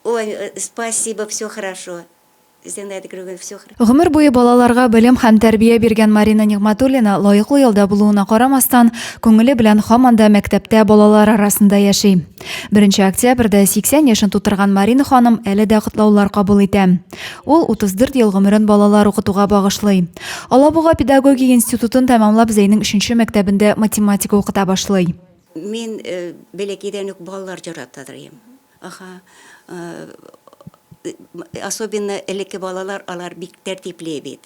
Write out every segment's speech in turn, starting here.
Ой, спасибо, все хорошо, Зина это Григорьевна, все хорошо. Гомер буе балаларга белем һәм тәрбия биргән Марина Нигъматуллина лаеклы ялда булуына карамастан, күңеле белән һаман да мәктәптә балалар арасында яши. 1 октябрьдә 80 яшен тутырган Марина ханым әле дә котлаулар кабул итә. Ул 34 ел гомерен балалар укытуга багышлый. Алабуга педагогия институтын тәмамлап Зәйнең 3 мәктәбендә математика укыта башлый. Мин э, бәләкәйдән үк балалар җаратадыр идем. Аха, э, особенно элекке балалар, алар бик тәртипле бит.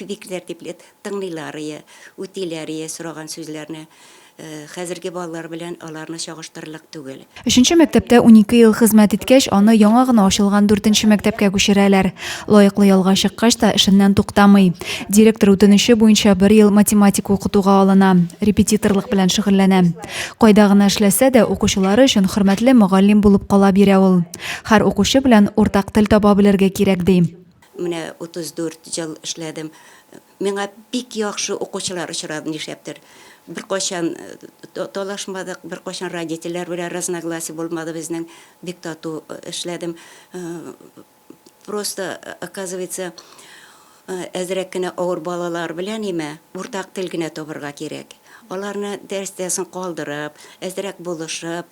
Бик тәртипле тыңлыйлар ие, үтиләр ие сораган сүзләрне. Э, хәзерге балалар белән аларны чагыштырырлык түгел. Өченче мәктәптә 12 ел хезмәт иткәч, аны яңа гына ачылган дүртенче мәктәпкә күчерәләр. Лаеклы ялга чыккач та эшеннән туктамый. Директор үтенече буенча бер ел математика укытуга алына, репетиторлык белән шөгыльләнә. Кайда гына эшләсә дә, укучылары өчен хөрмәтле мөгаллим булып кала бирә ул. Һәр укучы белән уртак тел таба белергә кирәк, ди. Менә 34 ел эшләдем. Миңа бик яхшы укучылар очрады, нишләптер. Беркайчан талашмадык, беркайчан родительләр белән разногласие булмады безнең. Бик тату эшләдем. просто оказывается әзрәк кенә авыр балалар белән имә уртак тел генә табырга кирәк аларны дәрестән соң калдырып әзрәк булышып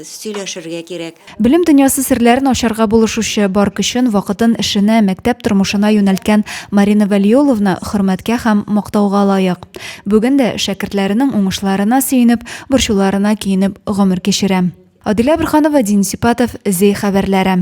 сөйләшергә кирәк белем дөньясы серләрен ачарга булышучы бар көчен вакытын эшенә мәктәп тормышына юнәлткән марина вәлиуловна хөрмәткә һәм мактауга лаек бүген дә шәкертләренең уңышларына сөенеп борчуларына көенеп гомер кичерә Адилә Бурханова, Дин Сипатов, Зей хәбәрләре.